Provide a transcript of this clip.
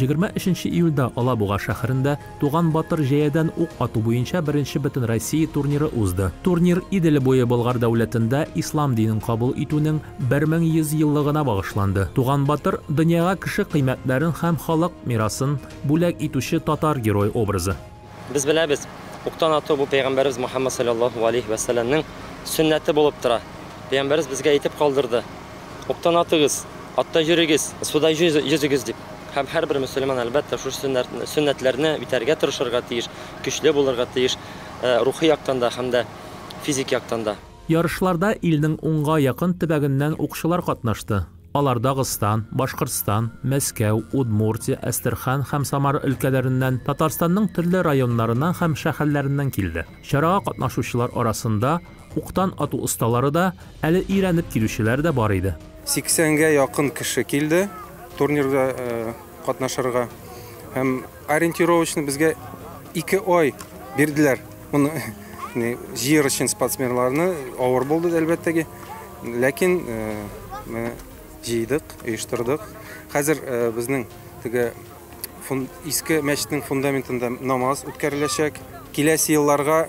Егерме өченче июльдә Алабуга шәһәрендә Туган батыр җәядән ук ату буенча беренче бөтенроссия турниры узды. Турнир Идел буе Болгар дәүләтендә ислам динен кабул итүнең 1100 еллыгына багышланды. Туган батыр, дөньяга кеше кыйммәтләрен һәм халык мирасын бүләк итүче татар герое образы. Без беләбез, уктан ату бу пәйгамбәребез Мухаммад салләллаһу галәйһи вә сәлләмнең сөннәте булып тора. Пәйгамбәребез безгә әйтеп калдырды, Уктан атыгыз, атта йөрегез, суда йөзегез дип. Һәм һәрбер мөселман, әлбәттә, шушы сөннәтләрне үтәргә тырышырга тиеш, көчле булырга тиеш, рухи яктан да һәм дә физик яктан да. Ярышларда илнең унга якын төбәгеннән укчылар катнашты. Алар Дагыстан, Башкортстан, Мәскәү, Удмуртия, Әстерхан һәм Самара өлкәләреннән, Татарстанның төрле районнарыннан һәм шәһәрләреннән килде. Чарага катнашучылар арасында уктан ату осталары да, әле өйрәнеп килүчеләр дә бар иде. Сиксәнгә якын кеше килде турнирда катнашырга һәм Ориентировочно безгә ике ай бирделәр. Моны җыер өчен спортсменнарны авыр булды әлбәттәге. Ләкин менә җыйдык, оештырдык. Хәзер безнең теге иске мәчетнең фундаментында намаз үткәреләчәк. Киләсе елларга